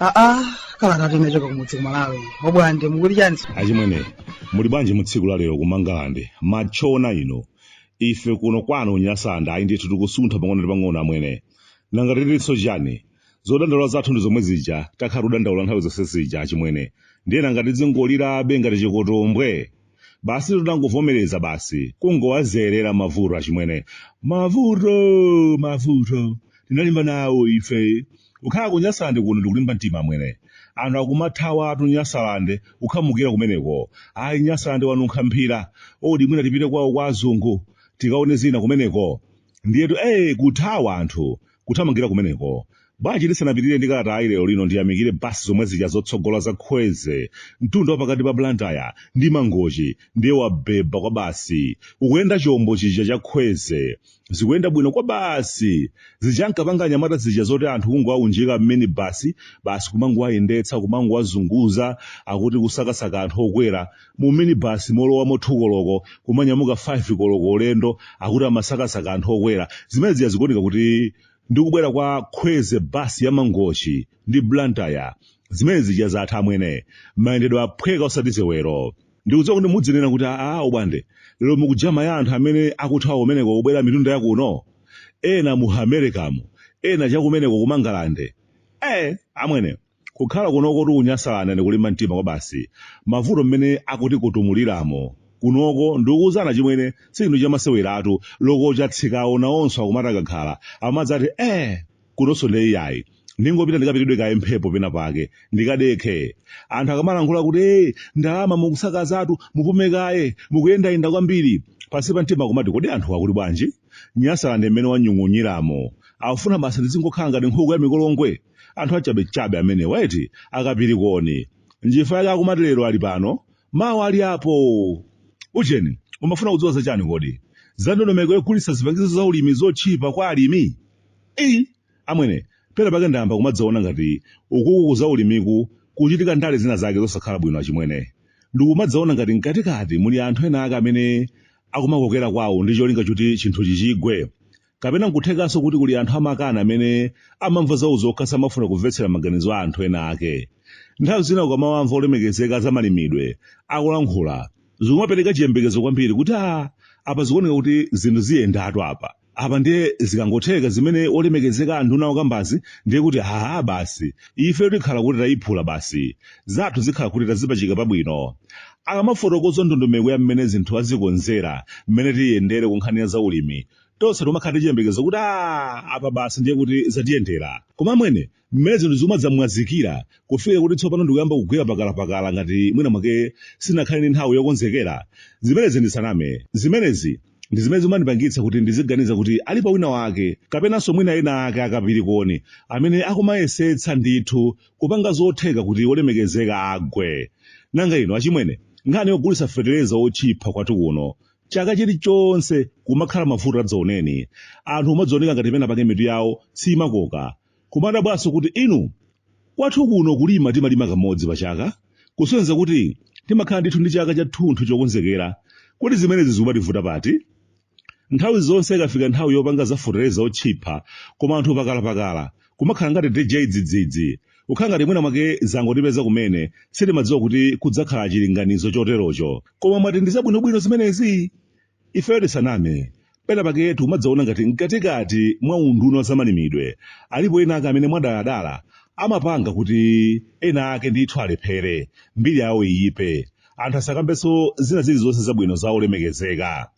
aa kalata yochoka kumudzi kumalawi obwande mukuli chansi achimwene muli bwanji mu tsiku la lero kumangalande matchona ino ife kuno kwanu nyasalande ayi ndithu tikusuntha pang'ono ndi pang'ono amwene nanga titinso chani zodandaula zathu ndi zomwe zija takhala tikudandaula nthawi zonse zija achimwene ndiye nanga tidzingolirabe ngati chikotombwe basi tinangovomereza basi kungowazolowera mavuto achimwene mavuto mavuto tinalimba nawo ife kukhala ku nyasalande kuno ndikulimba mtima amwene anthu akumathawatu nyasalande kukhamukira kumeneko ayi nyasalande wanunkha mphira odi mwina tipite kwawo kwa azungu tikaone zina kumeneko ndiyetu ee kuthawa anthu kuthamangira kumeneko. Bwanji ndisanapitirire ndi kalatayi lero lino ndiyamikire bus zomwe zija zotsogola za khweze mtunda wa pakati pa Blantyre ndi Mangochi ndiye wabhebha kwabasi. Kukuyenda chombo chija cha khweze. Zikuyenda bwino kwabasi. Zija ankapanga anyamata zija zoti anthu kungowaunjika m'minibus basi kumangowayendetsa kumangowazunguza akuti kusakasaka anthu okwera mu minibasi molowamo 2 koloko kumanyamuka 5 koloko ulendo akuti amasakasaka anthu okwera zimene zija zikuoneka kuti ndi kubwera kwa khweze basi ya mangochi ndi blantyre zimene zija zatha amwene mayendedwe aphweka osati sewero ndikudziwa kuti muzinena kuti aa obwande lero mukujama ya anthu amene akuthawa kumeneko kubwera mitunda yakuno ena mu americamu ena chakumeneko kumangalande eh amwene Kukhala kunokotu kunyasalande ndi kulimba mtima kwabasi. Mavuto mmene akutikutumuliramo kunoko ndikuuzani achimwene si chinthu chamaseweratu loko chatsikawo nawonso akumati akakhala amadzati eeh kunonso ndiye iyayi ndingopita ndikapitidwe kaye mphepo pena pake ndikadekhe anthu akamalankhula kuti ee ndalama mukusakazatu mupume kaye mukuyendayenda kwambiri pansi pa mtima kumati kodi anthuwa akuti bwanji? Nyasaland mmene wanyung'unyiramo akufuna basi ndizingokhala ngati nkhuku ya mikolongwe? anthu achabechabe amenewa eti akapirikoni njifa yake akumati lero ali pano mawa ali apo ujeni mumafuna kudziwa zachani kodi za ndondomeko yogulitsa zipangizo za ulimi zotchipa kwa alimi eyi amwene pena pake ndayamba kumadzaona ngati ukuku ku za ulimiku kukuchitika ndale zina zake zosakhala bwino achimwene ndikumadzaona ngati mkatikati muli anthu ena ake amene akumakokera kwawo ndi cholinga choti chinthuchi chigwe Kapena n'kuthekanso kuti kuli anthu amakani amene amamva zawo zokha samafuna kumvetsera maganizo a anthu ena ake. Nthawi zina ukamawamva olemekezeka a zamalimidwe akulankhula, zikumapereka chiyembekezo kwambiri kuti aa apa zikuoneka kuti zinthu ziyendatu apa. Apa ndiye zikangotheka zimene olemekezeka a nduna akukambazi ndiye kuti aa basi ifeyo tikhala kuti tayiphula basi, zathu zikhala kuti tazipachika pabwino. Akamafotokoza ndondomeko ya mmene zinthu azikonzera mmene ziyendere ku nkhani ya zaulimi, tonse timakhala ndi chiyembekezo kuti a apa basi ndiye kuti zatiyendera koma amwene mmene zinthu zimadzamwazikira kufikira kuti tsopano ndikuyamba kugwira pakalapakala ngati mwina mwake sanakhale ndi nthawi yokonzekera zimenezi ndisaname zimenezi ndi zimene zimandipangitsa kuti ndiziganiza kuti alipo wina wake kapenanso mwina ena ake akapirikoni amene akumayesetsa ndithu kupanga zotheka kuti olemekezeka agwe nanga ino achimwene nkhani yogulitsa fetereza otchipha kwathu kuno chaka chilichonse kumakhala mavuto adzaoneni anthu kumadzaoneka ngati pena pake mitu yawo simakoka kumadabwanso kuti inu kwathu kuno kulima timalima kamodzi pachaka kusonyeza kuti timakhala ndithu ndi chaka chathunthu chokonzekera kodi zimenezi zikumativuta pati nthawi zonse ikafika nthawi yopanga zafotereza otchipha koma anthu pakalapakala kumakhala ngati cha dzidzidzi kukhala ngati mwina mwake zangotipeza kumene sitimadziwa kuti kudzakhala chilinganizo choterocho koma mwati ndi zabwinobwino zimenezi ifeyo tisaname pena pake tumadzaona ngati mkatikati mwa unduna wa zamalimidwe alipo ena ake amene mwadaladala amapanga kuti ena ake ndithu alephere mbiri yawo iyipe anthu asakambenso zina zilizonse zabwino za olemekezeka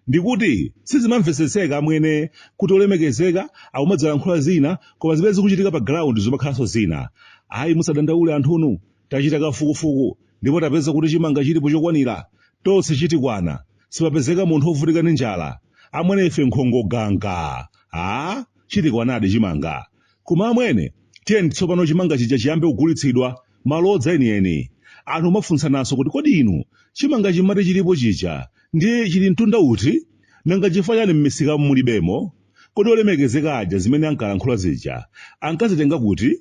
Ndikuti sizimamvesetseka amwene kuti olemekezeka akumadzalankhula zina koma zimene zikuchitika pa ground zumakhalanso zina. Ayi musadandaule anthunu tachita kafukufuku ndipo tapeza kuti chimanga chilipo chokwanira tonse chitikwana sipapezeka munthu ovutika ndi njala. Amwene ife nkhongo gwagwa! Aaa chitikwanadi chimanga. Koma amwene, tiyeni nditsopano chimanga chija chiyambe kugulitsidwa, malodza enieni. Anthu kumafunsananso kuti, Kodi inu, chimangachi mumati chilipo chija, ndiye chili mtunda uti? Nanga n'chifukwa chiyani m'misikamu mulibemo? Kodi olemekezeka aja zimene ankalankhula zija, ankazitenga kuti?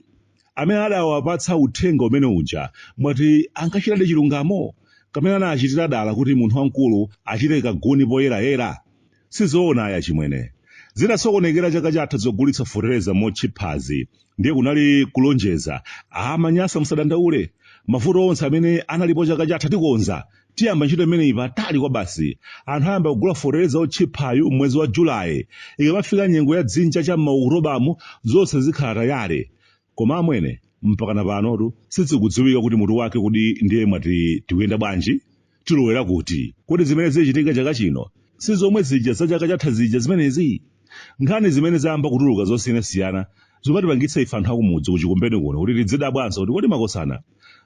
Amene adawapatsa uthenga umene uja, mwati ankachitadi chilungamo? Kapena anachitira dala kuti munthu wamkulu achite kaguni poyerayera? Sizoona ayi achimwene. Zinasokonekera chaka chatha zogulitsa fotereza motchiphazi ndiye kunali kulonjeza. A Manyasa musadandaule. Mavuto onse amene analipo chaka chatha tikonza. Tiyamba ntchito imeneyi patali kwabasi. Anthu ayamba kugula fotereza otchiphayu m'mwezi wa July. Ikamafika nyengo ya dzinja cha m'ma Oktobamu zonse zikhala tayale. Koma amwene, mpakana panotu sizikudziwika kuti mutu wake kodi ndiye mwati tikuyenda bwanji? Tilowera kuti? Kodi zimene zichitike chaka chino si zomwe zija za chaka chatha zija zimenezi? Nkhani zimene zayamba kutuluka zosiyanasiyana zikumatipangitsa ife anthu akumudzi ku Chikumbeni kuno kuti tidzidabwanso kuti kodi makosana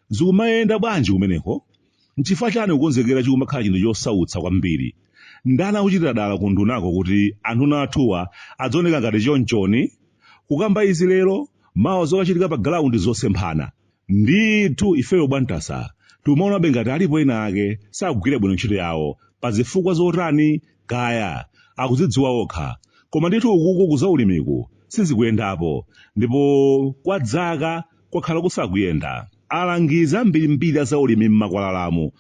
zikumayenda bwanji kumeneko? N'chifukwa chani kukonzekera chikumakhala chinthu chosautsa kwambiri? Ndani akuchitira dala ku undunako kuti anduna athuwa adzioneka ngati chonchoni? Kukamba izi lero, mawa zokachitika pa galaundi zosemphana. Ndithu, ifeyo Bwantasa tikumaonabe ngati alipo ena ake sakugwira bwino ntchito yawo. Pa zifukwa zotani? Kaya! Akuzidziwa okha. Koma ndithu ukuku ku zaulimiku sizikuyendapo. Ndipo kwa dzaka. kwakhala kusakuyenda. Alangizi ambirimbiri a zaulimi m'makwalalamu,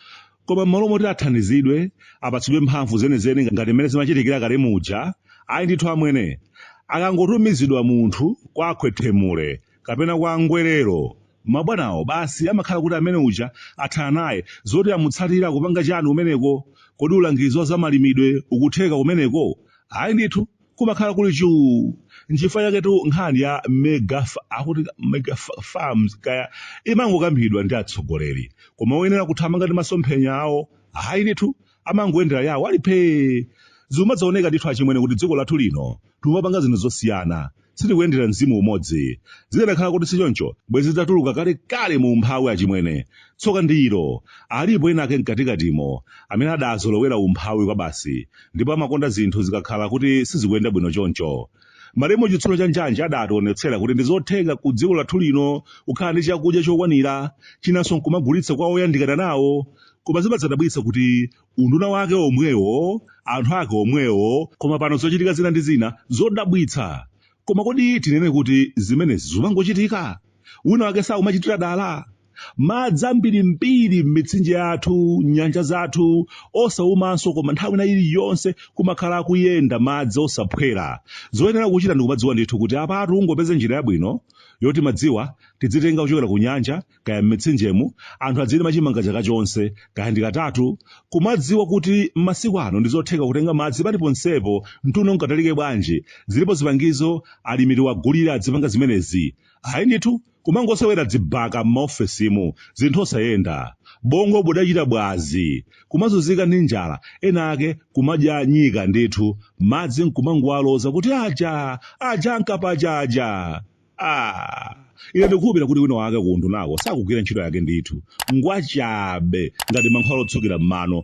koma m'malo moti athandizidwe, apatsidwe mphamvu zenizeni ngati mmene zimachitikira kale muja, ayi ndithu amwene, akangotumizidwa munthu kwa a Khwethemule kapena kwa Ngwerero, mabwanawo basi amakhala kuti amene uja athana naye. Zoti amutsatire akupanga chani kumeneko? Kodi ulangizi wa zamalimidwe ukutheka kumeneko? Ayi ndithu. kumakhala kuli chuu nchifukwa chaketu nkhani ya mega fa- akuti mega fa- farms kaya imangokambidwa ndi atsogoleri koma oyenera kuthamanga ndi masomphenya awo ayi ndithu amangoyendera yawo ali phee zimadzaoneka ndithu achimwene kuti dziko lathu lino timapanga zinthu zosiyana sitikuyendera mzimu umodzi zikanakhala kuti sichoncho bwezi zitatuluka kalekale mu umphawi achimwene Tsoka ndi ilo, alipo ena ake mkatikatimo amene adazolowera umphawi kwabasi ndipo amakonda zinthu zikakhala kuti sizikuyenda bwino choncho. Malemu Chitsulo cha Njanji adationetsera kuti ndi zotheka ku dziko lathu lino kukhala ndi chakudya chokwanira, chinanso nkumagulitsa kwa oyandikana nawo. Koma zimadzadabwitsa kuti unduna wake omwewo, anthu ake omwewo, koma pano zochitika zina ndi zina zodabwitsa. Koma kodi tinene kuti zimenezi zikumangochitika? Wina wake sakumachitira dala? madzi ambirimbiri m'mitsinje yathu nyanja zathu osaumanso koma nthawi ina iliyonse kumakhala akuyenda madzi osaphwera zoyenera kuchita ndikumadziwa ndithu kuti apatu ungopeze njira yabwino yoti madziwa tidzitenga kuchokera ku nyanja kaya m'mitsinjemu anthu adzilima chimanga chaka chonse kaya ndi katatu kumadziwa kuti m'masiku ano ndi zotheka kutenga madzi paliponsepo mtunda ungatalike bwanji zilipo zipangizo alimi tiwagulire adzipanga zimenezi ayi ndithu Kumangosewera dzibaka m'maofesimu, zinthu osayenda. Bongo budachita bwazi. Kumazunzika ndi njala, ena ake kumadya nyika ndithu, madzi nkumangowaloza kuti aja! Aja ankapa aja aja! Aaa! Ine ndikukhulupira kuti wina wake kuundunako sakugwira ntchito yake ndithu. Ngwachabe, ngati mankhwala otsukira m'mano,